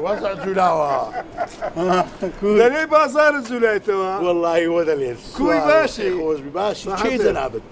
وەزع جولاوە دەلێ بازارە جولایتەوە وەڵی وە دەلێت کوی باشی خۆش باشی جەنابێت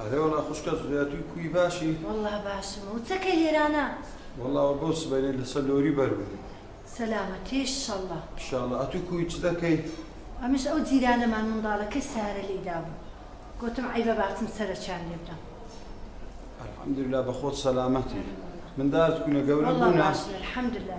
ئەرێ وەڵا خوشکە زویاتوی کوی باشی. وەڵا باشم و چەکەی لێرانە. وەڵا وە بۆ سبەینێ لەسەر لۆری بەربووم. سەلامەتی ان شەڵا. ان شەڵا ئەتوو کوی چ دەکەی. ئەمش ئەو جیرانەمان منداڵەکەی سارە لێی دابوو گۆتم عەیبە باچم سەرەکیان لێ بدەم. الحمدللە بەخۆت سەلامەتی مندارت کونە گەورە بوونە؟ وەڵا باشن الحمدللە.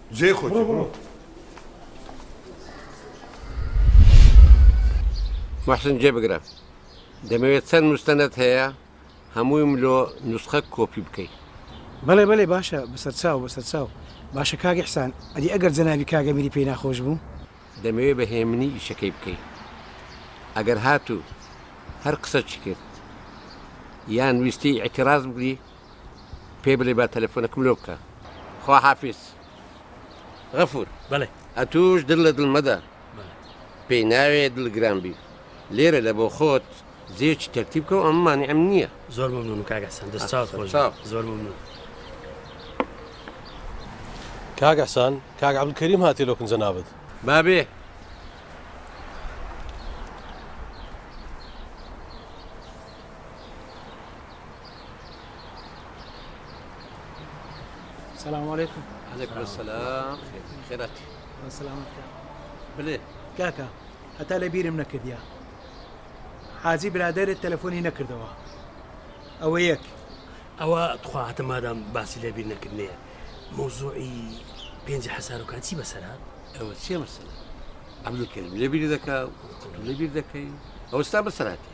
جێی خۆتی بڕۆ. موحسن جێ بگرە دەمەوێت چەند مستەنەت هەیە هەموویم لۆ نوسخە کۆپی بکەی. بەڵێ بەڵێ باشە بەسەرچاو بەسەرچاو. باشە کاک ئیحسان ئەدی ئەگەر جەنابی کاک ئەمیری پێی ناخۆش بوو؟ دەمەوێت بە هێمنی ئیشەکەی بکەی ئەگەر هات و هەر قسەچی کرد یان ویستی ئیعتراز بگری پێی بڵێ با تەلەفۆنەکم لۆ بکا. خواحافیز. غەفور. بەڵێ. ئەتووش دڵ لە دڵ مەدە. پێی ناوێ دڵ گران بی. لێرە لە بۆ خۆت جێیەکی تەرتیب کە و ئەمن مانعم نییە. زۆر مەمنوونم کاک ئەحسان. دەست چاوت خۆش بێ. زۆر مەمنوون. کاک ئەحسان، کاک عەبدولکەریم هاتیە لۆ کن جەنابت. با بێ. سلام علیکم علیکم سلام خێرات سلامت کە بلێ کاکە هەتا لە بیرم نەکردیا حاجی برادێت تەلەفۆنی نەکردەوە ئەوە یەک ئەوە تخواهتە مادام باسی لە بیر نەکردێ مۆزوعی پێنج حەسارۆکان چی بەسەرات ئەوە چێ مەسەلا ئەملوکەریم لێبیری دەکا لەبیر دەکەی ئەوستا بەسەراتی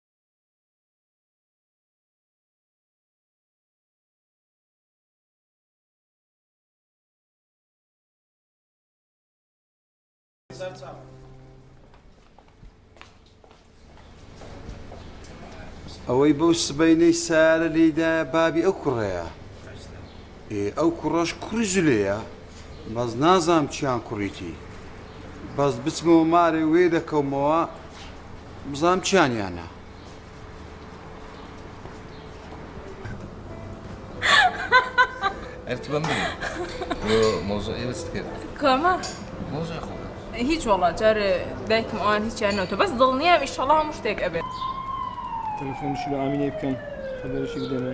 ئەوەی بەو سبەینەی سارە لێدا بابی ئەو کوڕەیە ئەو کوڕەش کوڕی زلەیە بەس نازام چیان کوڕیتی بەس بچمەوە مارێ وێ دەکەمەوە بزانم چیان یا نا. ئەرت بە من مۆزۆ ئێوەست کرد کامە مۆزۆی خۆ هیچ وڵات جار دایکم ئەوان هیچیان نەوتە بەس دڵنییا ئیشەڵا هەموو شتێک ئەبێت تەلفۆنشی بە ئامینەی بکەم خەبەرشی بدەمێ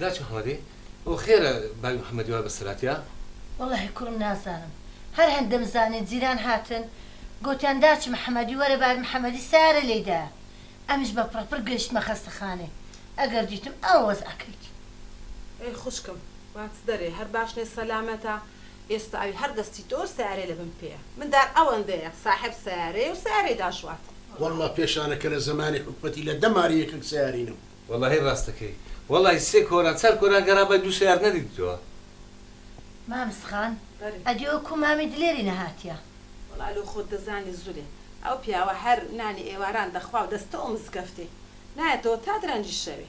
داچ محمدی ئۆ خێرە باوی محمدی وا بەسەراتیا. وەڵاهی کوڕم نازانم هەر هەن دەمزانی جیران هاتن گۆتیان داچ محمدی وەرە باوی محمدی سەیارە لێی دایە ئەمنیش بە پڕە پڕ گەیشتمە خەستەخانەی ئەگەر دیتم ئەوە وەزعەکەیتی. ئەی خوشکم با چ دەرێ هەر باش نیە سەلامەتە. ئێستا ئەوی هەر دەستی تۆ سەیارەی لە بن پێیە مندار ئەوەندەیە ساحێب سەیارەیە و سەیارەی داشوات. وەللە پێشانە کە لە زەمانی حکومەتی لە دە ماری یەکەک سەیاری نەبوو. وەلاهی ڕاستەکەی وەڵای سێ کۆران چار کۆران گەڕابای دوو سەیار نەدیتتەوە. مامز خان ئەدی ئەو کو مامی دلێری نەهاتیە. وەڵا لۆ خۆت دەزانی زولێ ئەو پیاوە هەر نانی ئێواران دەخوا و دەستەو مزگەفتێ نایەتەوە تا درەنگی شەوێ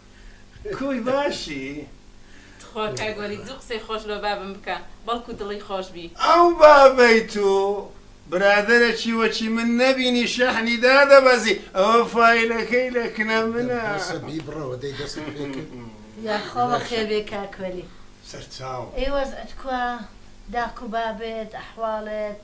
کوی باشی. تخوا کاک وەلید زوو قسەی خۆش لۆ بابم بکە بەڵکو دڵی خۆش بی. ئەو بابەی تو برادەرە چیوەچی من نەبینی شەحنی دادەبەزی ئەوە فایلەکەی لە کنە منە. بەسە بیبڕەوە دەی دەستت پێ کرد. یاخوا بەخێر بێی کاک وەلی. سەرچاو. ئەی وەزعت کوا داکو بابت ئەحواڵت.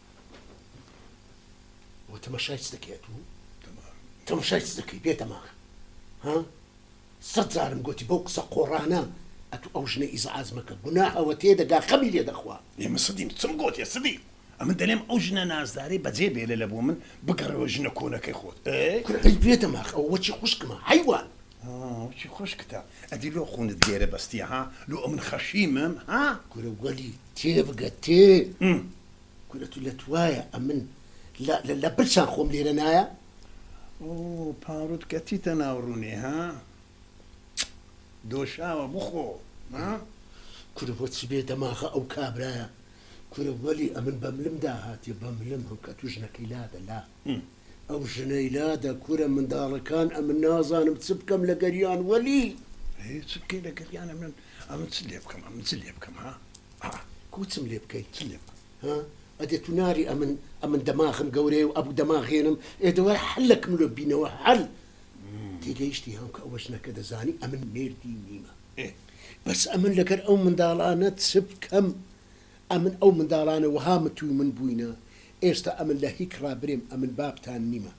تەمەشای چ دەکەێت و تەمەشای چ دەکەی بێ دەماغ ها سەد جارم گوتی بەو قسە قۆڕانە ئەتو ئەو ژنە ئیزعاز مەکە گونا ئەوە تێ دەگا خەمی لێ دەخوا ئێمە سەدیم چم گوتێ سدی ئەمن دەلێم ئەو ژنە نازدارەی بەجێ بێلە لە بۆ من بگەڕەوە ژنە کۆنەکەی خۆت کوڕی بێ دەماغ ئەو وەچی خوشکمە حیوان چی خوشکتە ئەدی لۆ خونت گێرە بەستیە ها لۆ ئەمن خەشیمم ها کورە وەلی تێ بگە تێ کورە تو لەت وایە ئەمن لە برچان خۆم لێرە نایە. ئۆۆ پاڕوت کەچیتە ناو ڕونێ ها دۆشاوە بخۆ ها. کورە بۆچی بێ دەماغە ئەو کابرایە کورە وەلی ئەمن بە ملم داهاتێ بە ملم هەم کە تو ژنەکەی لادە لا ئەو ژنەی لادە کورە منداڵەکان ئەمن نازانم چ بکەم لە گەریان وەلی هیچ بکەی لە گەریانە من ئەمن چ لێ بکەم ئەمن چ لێ بکەم ها ئا کو چم لێ بکەی چ لێ بکەم ها ئەدێ تو ناری ئەمن ئەمن دەماغم گەورەیە و ئەبوو دەماغێنم ئێ دەوای حەلەکم لۆ بینەوە حەل تێگەیشتی هەم کە ئەوە ژنەکە دەزانی ئەمن مێردی نیمە بەس ئەمن لەگەر ئەو منداڵانە چ بکەم ئەمن ئەو منداڵانە وەها متوی من بووینە ئێستا ئەمن لە هیک ڕابرێم ئەمن بابتان نیمە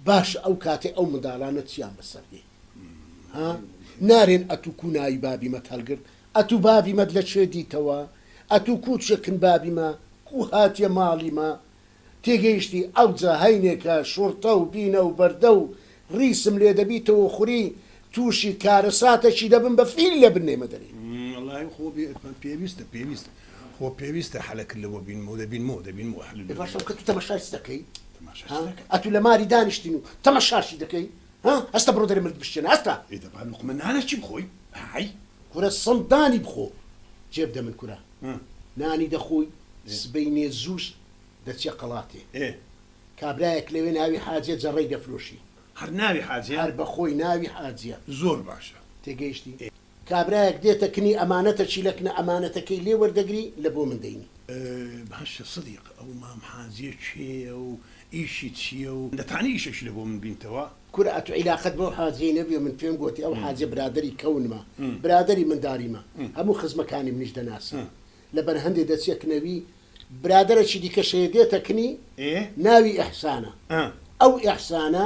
باشە ئەو کاتێ ئەو منداڵانە چیان بەسەر دێ ها نارێن ئەتو کو ناوی بابی مەت هەلگرت ئەتو بابی مەت لە کوێ دیتەوە ئەتو کو چێکن بابی مە کو هاتیە مالی مە تێگەیشتی ئەوجە هەینێکە شوڕتە و بینە و بەردە و ڕیسم لێ دەبیتەوە خوری توشی کارەساتە چی دەبم بە فیل لە بن نێمە دەری. وەڵاهی خۆ پێویستە پێویست خۆ پێویستە حەلە کلە وە بین مۆ دەبین مۆ دەبین مۆ حەل باشە کە تو تەمەشای چ دەکەی ها ئەتو لە ماری دانیشتین و تەمەشاشی دەکەی. ها هەستە بڕۆ دەرێ مرد بشکێنە هەستە. ئێ دەبا لوقمە نانەکی بخۆی ئای. کورە سڵ دانی بخۆ جێ بدە من کورە نانی دەخۆی سبەینێ زووش دەچیە قەڵاتێ ئێ کابرایەک لەوێ ناوی حاجیە جەڕەی دەفرۆشی هەر ناوی حاجیە هەر بەخۆی ناوی حاجیە. زۆر باشە تێگەیشتی. کابرایەک دێتە کنی ئەمانەتە چیلەک نە ئەمانەتەکەی لێ وەردەگری لە بۆ من دەینی. باشە سدیق ئەو مام حاجیە کێیە و ئیشی چیە و دەتانی ئیشەکی لە بۆ من بینتەوە. کورە ئەتو عیلاقەت بەو حاجیەی نەبویە من پێم گۆتی ئەو حاجیە برادەری کەونمە برادەری منداریمە هەموو خزمەکانی منیش دەناسی لە بەر هەندێ دەچیە کنەوی برادەرەکی دیکەش هەیە دێتە کنی ناوی ئیحسانە ئەو ئیحسانە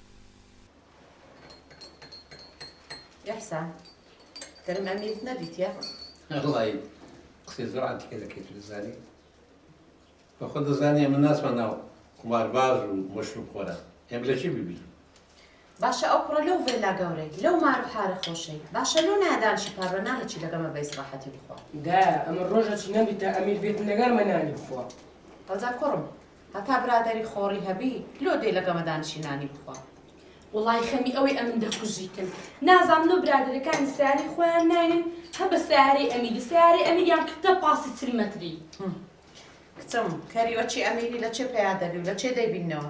احسان گەرم ئەمیرت نەدیتیە؟ ئەڵای قسەی زۆر عەتیکە دەکەی تۆ دەزانی بە خۆت دەزانی ئەمە ناچمە ناو قومارباز و مەشروب خۆران ئێمە لە چی ببینین باشە ئەو کوڕە لەو ڤێلا گەورەی لەو مار و حارە خۆشەی باشە لۆ نایە دانشی پار بە نانێکی لەگەڵمە بە ئیسراحەتی بخوا دایە ئەمە ڕۆژە چی نەبیتە ئەمیر بێت لەگەڵمە نانی بخوا هەودا کوڕم هەتا برادەری خۆڕی هەبی لۆ دێ لەگەڵە دانشی نانی بخوا. وەڵای خەمی ئەوەی ئەمن دەکوژیتن نازانن و برادەرەکانی سەیارەی خۆیان ناینن هەر بە سەیارەی ئەمیری سەیارەی ئەمیریان کردە پاسی چل مەتری. کچم کەری وەچی ئەمیری لە چێ پەیا دەبی و لە چێ دەیبینەوە.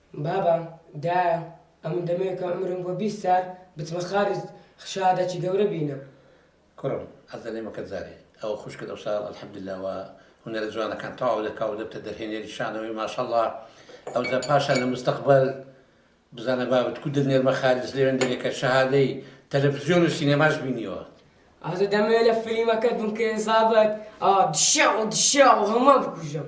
بابە دایە ئەمن دەمەوێ کە عومرم بۆ بیست سال بچمە خارج شەهادەکی گەورە بینم. کوڕم حەز دەلێم وەکت زارێ ئەوە خوشکت ئەوسال الحمدللە وە هونەرە جوانەکان تەواو دەکا و دەبتە دەرهێنەری شانەوەی ماشەڵڵا ئەوجا پاشان لە مستەقبەل بزانە بابت کو دەنێر بە خارج لەوێن دەرێکە شەهادەی تەلەفزیۆن و سینەماش بینیوە ئازە دەمەوێ لە فلیمەکەت بم کە ئێزابەت ئا دشاو دشاو هەموان بکوژم.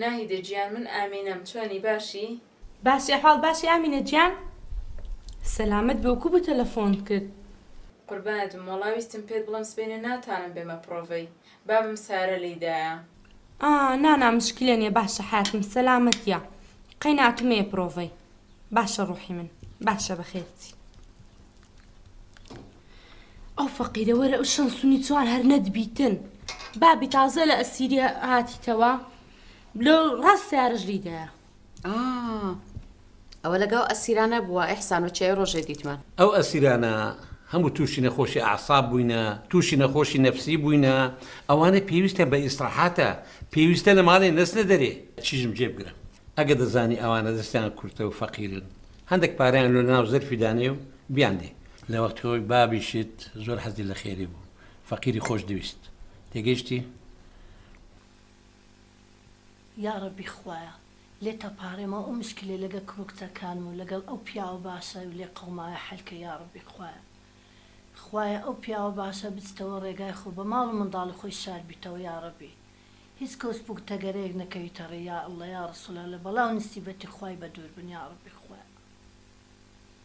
ناهیدە گیان من ئامینەم چۆنی باشی؟ باشی ئەحواڵ باشی ئامینە گیان؟ سەلامەت بە وکو بو تەلەفۆنت کرد؟ قوربانت بم وەڵا ویستم پێت بڵێم سبەینێ ناتانم بێمە پڕۆڤەی بابم سارە لێی دایە. ئا نا نا مشکلە نیە باشە حەیاتم سەلامەتیە قەی ناتمەیە پڕۆڤەی باشە ڕوحی من باشە بەخێرچی. ئەو فەقیرە وەرە ئەو شەن سونی چوار هەر نەدبیتن بابی تازە لە ئەسیریا هاتیتەوە لە ڕاست سیارش لیدایە ئەوە لەگەڵ ئەسیرانە بووە ئەحسان و چێ ڕۆژێ دیتمان ئەو ئەسیرانە هەموو تووشی نەخۆشی ئاساب بووینە تووشی نەخۆشی نەفسی بووینە ئەوانە پێویستە بە ئیسراحاتە پێویستە لە ماڵێ نەسنە دەرێ چیژم جێ بگرە ئەگە دەزانی ئەوانە دەستیان کورتە و فەقیرن هەندێک پاریان لۆ ناو زەرفی دانێ و بیاندێ. لە وەختی خۆی بابیشت زۆر حەزی لە خێری بوو. فەقیری خۆش دەویست. تێگەیشتی؟ یاڕەبی خوایە لێت ئەپارێمەوە ئەو مشکلەی لەگەڵ کوڕو کچەکانم و لەگەڵ ئەو پیاوە باشە لێ قەوماوە حەلکە یاڕەبی خوایە خوایە ئەو پیاوە باشە بچتەوە ڕێگای خۆ بە ماڵ و منداڵی خۆی شاد بیتەوە یاڕەبی هیچ کۆسپ و تەگەرەیەک نەکەویتە ڕێی یا اللە یا ڕسول اللە بەڵا و نسیبەتی خوای بەدوور بن یاڕەبی خوایە.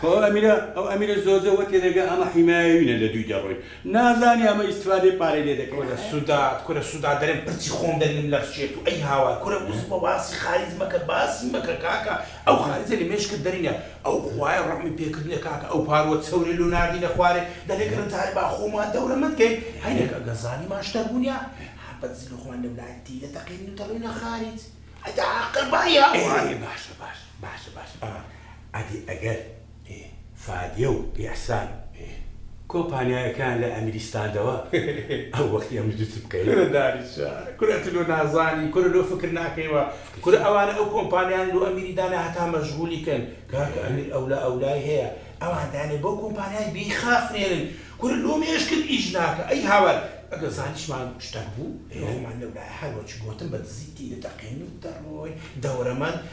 خۆ ئەو ئەمیرە ئەو ئەمیرە زۆزە وە تێدەگا ئەمە حیمایەوینە لە دووی دەڕۆین نازانی ئەمە ئیستفادەی پارەی لێ دەکەین کورە حەیف. سوداد کورە سوداد دەرێم پرچی خۆم دەرینم لەرچێت و ئەی هاوار کورە وس بە باسی خاریج مەکە باسی مەکە کاکە ئەو خاریجە لە مێشکت دەرینە ئەو خوایە ڕەحمی پێکردنە کاکە ئەو پاروە چەورەی لۆ ناردینە خوارێ دەلێ گەر جارێ با خۆمان دەورەمەند کەین هەینێک ئەگەر زانیمان شتەک بونیا هەبەت زیرۆکمان لەولایە تیدەتەقێنین و دەڕۆینە خاریج ئەی دە عاقڵ بە ئەی هاوار. ئێ باشە باشە. باشە باشە ئا ئەدی ئەگەر ئێ فادیە و ئیحسان ئێ کۆمپانیایەکەیان لە ئەمیری ستاندەوە ئەو وەخت ئێمە دوو چ بکەین؟ کورە دانیشە کورە ئەتو لۆ نازانی کورە لۆ فکر ناکەیوە فکر کورە چیە؟ ئەوانە ئەو کۆمپانیایان لۆ ئەمیری دانێ هەتا مەژغولی کەن کاکە ئێ. ئەمیر ئەولا ئەولای هەیە ئەوان دانێ بۆ کۆمپانیای بیخافرێنن کورە لۆ مێشکت ئیش ناکە ئەی هاوار ئەگەر زانیشمان شتەک بوو ئێ. لۆ خۆمان لەولایە هەر وەک گۆتم بە دزی تیدەتەقێین و دەڕۆین دەورەمان.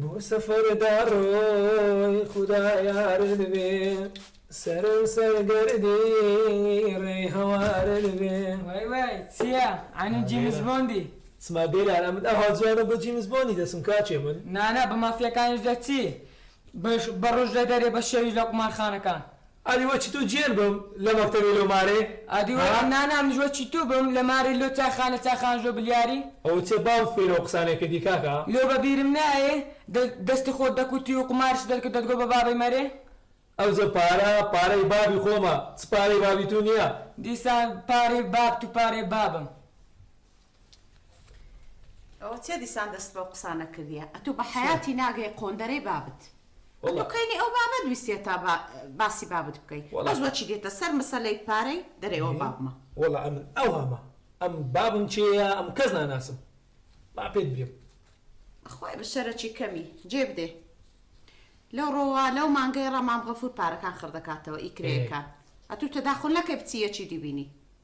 بۆ سەفەر دەڕۆی خودا یارت بێ سەرم سەر گەردی ڕێی هەوارت بێ. وای وای چیە عنی جیمس بۆندی. سما دێلان ئەمن ئەوها جوانە بۆ جیمس بۆندی دەچم کاچێ من. نانا بە مافیاکانیش دەچی بە ڕۆژ لە دەرێ بە شەویش لە قومارخانەکان ئادی وەچی تۆ جێن بم لە مەکتەبێ لۆ مارێ ئادی وە ها؟ نا نا منیش وەچی تۆ بم لە مارێ لۆ چایخانە چاخان ژۆ بلیاری. ئەوە چە باو فێرە و قسانێ کردی کاکە. لۆ بە بیرم نایێ دە دەستی خۆت دەکوتی و قومارشت دەرکرد دەتگۆ بە بابەی مەرێ. ئەوجە پارە پارەی بابی خۆمە چ پارەی بابی تو نیە. دیسان پارەی بابت و پارەی بابم. ئەوە چیە دیسان دەست بەو قسانە کردیە ئەتو بە حیاتی ناگەی قۆندەرەی بابت ئەتو کەینی ئەو بابت ویستە تا باسی بابت بکەی بەس وەچی دێتە سەر مسەلەی پارەی دەرێ ئەو بابمە وەڵا ئەمن ئەوهەمە ئەم بابم کێیە ئەم کەس ناناسم با پێت برێم خوای بشەرەکی کەمی جێ بدێ لەو ڕۆوە لەو مانگەی ڕەمام غەفور پارەکان خڕدەکاتەوە ئیکرەیەکان ئەتو تەداخل نەکەی بچی یەکی دیبینی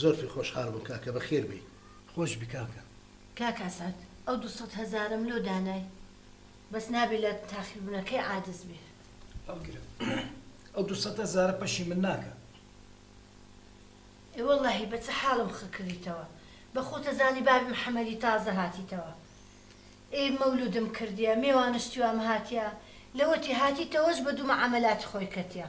زۆر پێ خۆش حال بوم کاکە بەخێر بێی. خۆشبی کاکە. کاک ئەسعەد ئەو دوو سەد هەزارەم لۆ دانای بەس نابێ لە تاخیربونەکەی عادز بێ. هەڵگرە ئەو دوو سەد هەزارە پەشی من ناکا. ئێ وەڵاهی بە چ حاڵم خە کڕیتەوە بە خۆتە زانی بابی محمدی تازە هاتیتەوە ئێ مەولودم کردیە مێوانشتیوام هاتیە لەوەتی هاتیتەوەش بە دوو مەعامەلاتی خۆی کەتیە.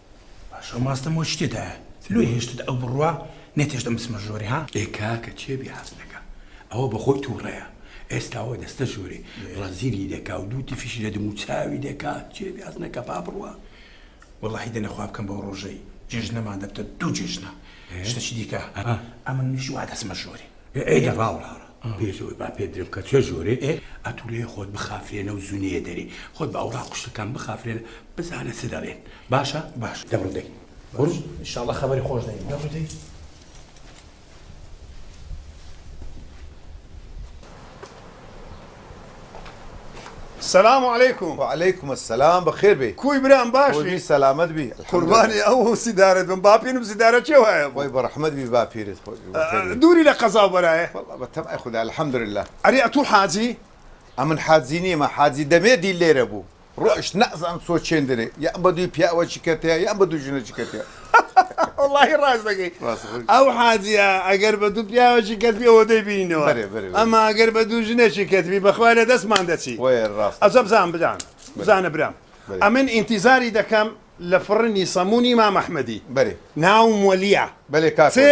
باشە ماستم وە شتێدایە لۆی هێشتت ئەو بڕوا نەتێشتە مسمە ژۆری ها ئێ کاکە چێ بێ هەست دەکا ئەوە بەخۆی تووڕەیە ئێستاوە دەستە ژۆرێ ڕەزیلی دەکا و دوو تفیشی لە دموو چاوی دەکا چێ بێ هەست نەکا با بڕوا وەڵاهی دەنە خوا بکەم بەو ڕۆژەی جێژنەمان دەبتە دوو جێژنە شتەچی دیکە ئەمن میش وا دەسمە ژۆری ئێ ئێ دەڤاوڵاڕە پێش ئەوەی با پێت درم کە چێ ژۆرێ ئێ ئەتوو لێ خۆت بخافرێنە و زونێ دەرێ خۆت بە ئەوڕاق و شتەکان بخافرێنە بزانە چ دەڵێن باشە باش دەبڕ دەی بڕ ان شاء اللە خەبەری خۆش دەین دەبڕ دەی سلام علیکم. وعلیکم السلام بەخێر بێی. کوی برام باشی. خۆی بی سەلامەت بی الحمدللە. قوربانی ئەو و سیدارەت بم باپیرم سیدارە چێ وایە بوو. خۆی بەڕەحمەت بی باپیرت خۆی بی بەخێر بێی. دووری لە قەزا و بەرایە. وەڵا بە تەمای خودا الحمدللە. ئەرێ ئەتوو حاجی؟ ئەمن حاجی نیمە حاجی دەمێ دی لێرە بوو. ڕۆشت نازان چۆ چێندرێ یان بە دووی پیاوە چکەتەیە یان بە دوو ژنە چکەتەیە وەڵاهی ڕاست دەکەی ئەو حاجیە ئەگەر بە دوو پیاوەکی کەتبی ئەوە دەیبینەوە ئەما ئەگەر بە دوو ژنێکی کەتبی بەخوا لە دەستمان دەچی ئەزە بزان بدان بزانە برام ئەمن ئینتیزاری دەکەم لە فڕنی سەمونی مام ئەحمەدی ناوم وەلیە بەێ کاتێ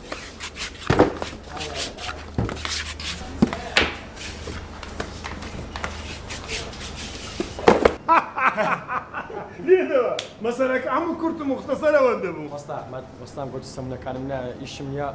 لێدەوە مەسەرەکە هەموو کورت و مختەسەرەوە دەبوو وەستا ئەحمد وەستام گوتی سەمونەکانم نا ئیشم یا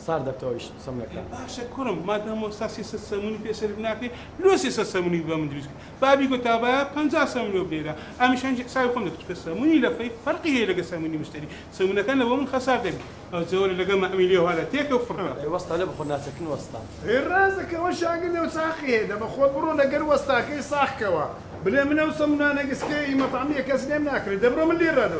سار دەبتەوە ئیش سەمونەکە باشە کوڕم مادام وەستا سێ سەد سەمونی پێ سەرف ناکەی لۆ سێ سەد سەمونی بە من دروست کرد بابی گوتا با پەنجا سەمون لۆ بنێرە ئەمیشان حسابی خۆم دەکرد چونکە سەمونی لەفەی فەرقی هەیە لەگە سەمونی مشتری سەمونەکان لە بۆ من خەسار دەبی ئەو جۆرە لەگەڵ مەعمیلی ئەوها لە تێکە و فڕکە. ئەی وەستا لە بخۆ ناچە کن وەستا. ئەی ڕازە کە وە شاگە لێو چاقی هەیە دە بە خۆت بڕۆ لە گەر وەستا کەی ساخ کە وە بلێ من ئەو سە منا نە گس کە ی مە تەعمی یە کەس لێم ناکرێ دە بڕۆ من لێ ڕا دە